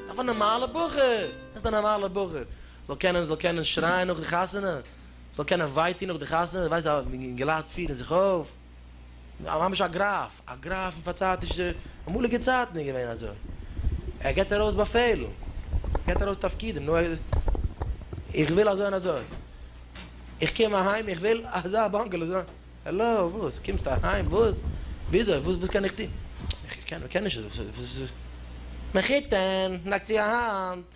אויף א נארמאלע בחור, איז א נארמאלע בחור, זאל קענען זאל קענען שרייען נאך די חתונה, זאל קענען וויי טוהן נאך די חתונה, ווייסט ווי געלייט פירן זיך אויף. ממש א גראף, א גראף פון פארצייטישע, אמאליגע צייטן איז געווען אזוי. ער גיבט ארויס באפעלן, ער גיבט ארויס תפקידים, נו, איך וויל אזוי און אזוי. איך קום אהיים, איך וויל אזא באנגעלא, אזא, העלא, וואס? קומסט אהיים, וואס? וויאזוי? וואס קען איך טון? איך קען נישט אזוי, וואס? מען קוקט אהן, מען לייגט צו א האנט.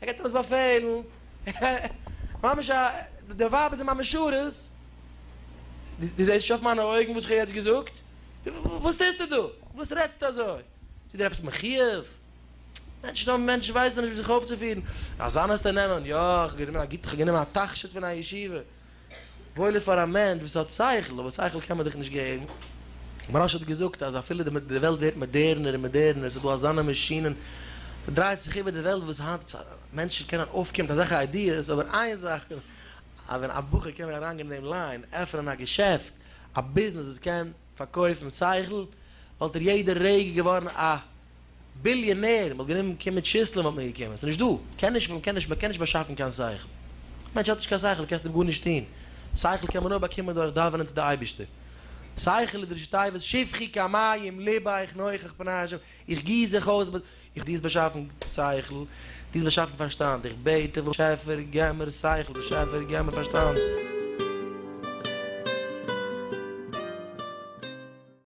ער געט ארויס באפעלן, ממש א, די ווייבער זענען ממש שורות, דו זעסט נישט אויף מיינע אויגן וואס איך האב יעצט געזאגט? וואס טוסטו דא? וואס רעדסטו אזוי? איז דיר עפעס מחיוב? מענטשן האבן, מענטשן ווייסן נישט ווי זיך אויפצופירן, אזאנעס טו נעמען, יא, איך האב גענומען א גוטע, איך האב גענומען א תכשיט פון א ישיבה. וואויל איז פאר א מענטש וואס האט שכל, אבער שכל קען מען דיך נישט געבן. מרן האט געזאגט אז אפילו די וועלט ווערט מאדערנער און מאדערנער, עס איז דא אזאנע מאשינען, ס'דרייט זיך איבער די וועלט וואס היינט מענטשן קענען אויפקומען מיט אזעלכע איידיעס, אבער איין זאך, אז ווען א בחור קען ווען אריינגיין אין דעם ליין, עפענען א געשעפט, א ביזנעס וואס קען פארקויפן שכל, וואלט ער יעדע רגע געווארן א. ביליאנער, מ'וואלט גענומען קומען טשיסלען וואלט מען געקומען, ס'נישט דא, קען נישט וויל קען נישט מ'קען נישט באשאפן קיין שכל, מענטש האט נישט קיין שכל קענסט אים גארנישט טון, שכל קען מען נאר באקומען דורך דאווענען צו די אייבישטער, שכל איז די ראשי תיבות שפכי כמים לבך נוכח פני ה', איך גיס זיך אויס, איך דו האסט באשאפן שכל, דו האסט באשאפן פארשטאנד, איך בעט דיך באשעפער געב מיר שכל, באשעפער געב מיר פארשטאנד.